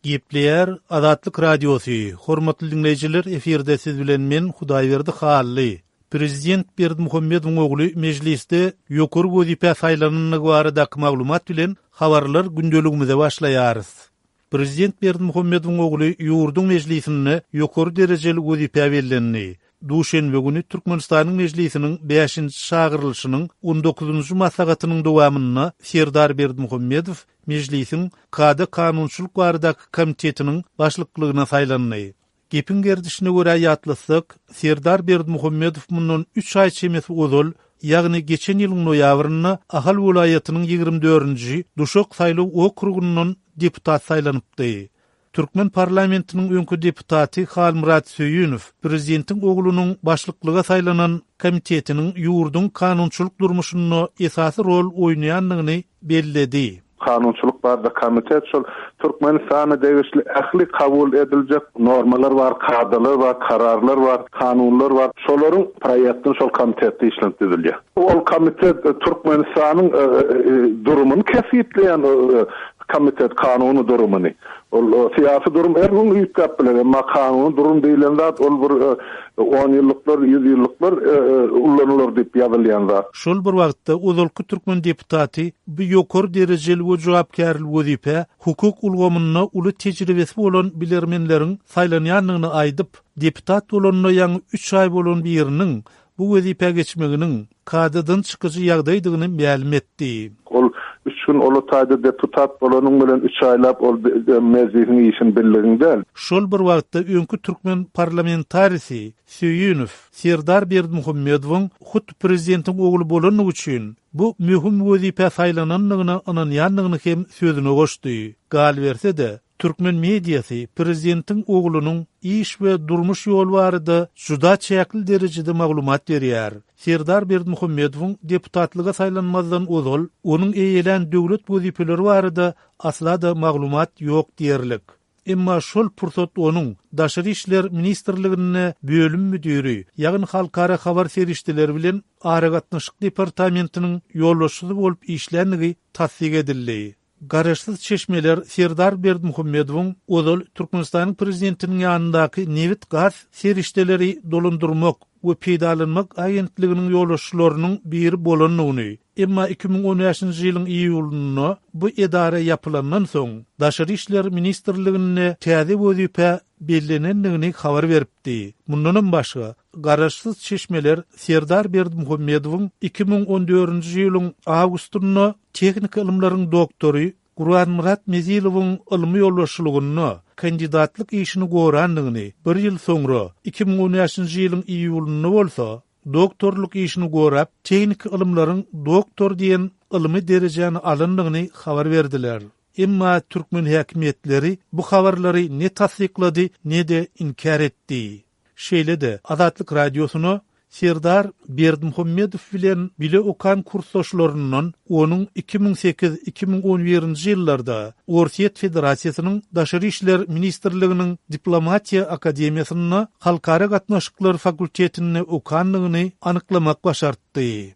Gepleýär Azatlyk Radiosy, Hormatly diňleýjiler efirde siz bilen men Hudaýberdi Hally. Prezident Berdimuhamedowyň ogly Mejlisde ýokary wezipä saýlanandygy baradaky maglumat bilen habarlar gündeligimize başlaýarys. Prezident Berdimuhamedowyň ogly ýurduň Mejlisinde ýokary derejeli wezipä bellendi. Duşenbe güni Türkmenistanyň Mejlisiniň bäşinji çagyrylyşynyň on dokuzynjy maslahatynyň dowamynda Serdar Berdimuhamedow Mejlisiň Kada-kanunçylyk baradaky komitetiniň başlyklygyna saýlandy. Gepiň gerdişine görä ýatlatsak, Serdar Berdimuhamedow mundan üç aý çemesi ozal, ýagny geçen ýylyň noýabrynda Ahal welaýatynyň ýigrimi dördünji, Duşak saýlaw okrugyndan deputat saýlanypdy. Türkmen parlamentiniň öňki deputaty Halmyrat Söýünow prezidentiň oglunyň başlyklyga saýlanan komitetiniň ýurduň kanunçylyk durmuşynda esasy rol oýnaýandygyny belledi. Kanunçylyk barada komitet şol Türkmenistana degişli ähli kabul ediljek normalar bar, kadalar bar, kararlar bar, kanunlar bar. Şolaryň proýektini şol komitetde işlenip düzülýär. Ol komitet Türkmenistanyň durumyny kesgitleýän Komitet kanuny durumyny, ol syýasy durum her gün üýtgäp biler, emma kanuny durum diýlen zat ol bir onýyllyklar, ýüzýyllyklar ullanylar diýip ýazylýan zat. Şol bir wagtda, ozalky türkmen deputaty bu ýokary derejeli we jogapkärli wezipä hukuk ulgamynda uly tejribesi bolan bilermenleriň saýlanýandygyny aýdyp, deputat bolanyna ýaňy üç aý bolan biriniň bu wezipä geçmeginiň, kadadan çykyjy ýagdaýdygyny mälim etdi. Ol üç gün ola taýda deputat bolanyň bilen üç aýlap ol Mejlisiň işini bildigiň däl. Şol bir wagtda öňki türkmen parlamentarisi Söýünow Serdar Berdimuhamedowyň hut prezidentiň ogly bolandygy üçin bu möhüm wezipä saýlanandygyna ynanýandygyny hem sözüne goşdy. Galyberse-de, Türkmen mediasy prezidentiň oglunyň iş we durmuş ýoly barada juda çäkli derejede maglumat berýär. Serdar Berdimuhamedowyň deputatlyga saýlanmazdan ozal onuň eýelän döwlet wezipeleri barada asla-da maglumat ýok diýerlik. Emma şol pursat onuň Daşary işler ministrliginde bölüm müdiri, ýagny halkara habar serişdeleri bilen aragatnaşyk departamentiniň ýolbaşçysy bolup işländigi tassyk edildi. Garaşsyz çeşmeler Serdar Berdimuhamedowyň ozal Türkmenistanyň prezidentiniň ýanyndaky Nebit-gaz serişdeleri dolandyrmak we peýdalanmak agentliginiň ýolbaşçylarynyň biri bolandygyny, emma iki müň on bäşinji ýylyň iýulynda bu edara ýapylandan soň, Daşary işler ministrliginde täze wezipä bellenendigini habar beripdi. Mundanam başga, garaşsyz çeşmeler Serdar Berdimuhamedowyň iki müň on dördünji ýylyň awgustynda tehniki ylymlaryň doktory Gurbannmyrat Mezilowyň ylmy ýolbaşçylygynda kandidatlyk işini gorandygyny, bir ýyl soňra, iki müň on bäşinji ýylyň iýulynda bolsa, doktorlyk işini gorap, tehniki ylymlaryň doktory diýen ylmy derejäni alandygyny habar berdiler. Emma türkmen häkimiýetleri bu habarlary ne tassyklady, ne-de inkär etdi. Şeýle-de, Azatlyk Radiosyna Serdar Berdimuhamedow bilen bile okan kursdaşlaryndan onuň iki müň sekiz, iki müň on birinji ýyllarda Orsýet Federasiýasynyň Daşary işler ministrliginiň Diplomatiýa akademiýasynda Halkara gatnaşyklary fakultetinde okandygyny anyklamak başartdy.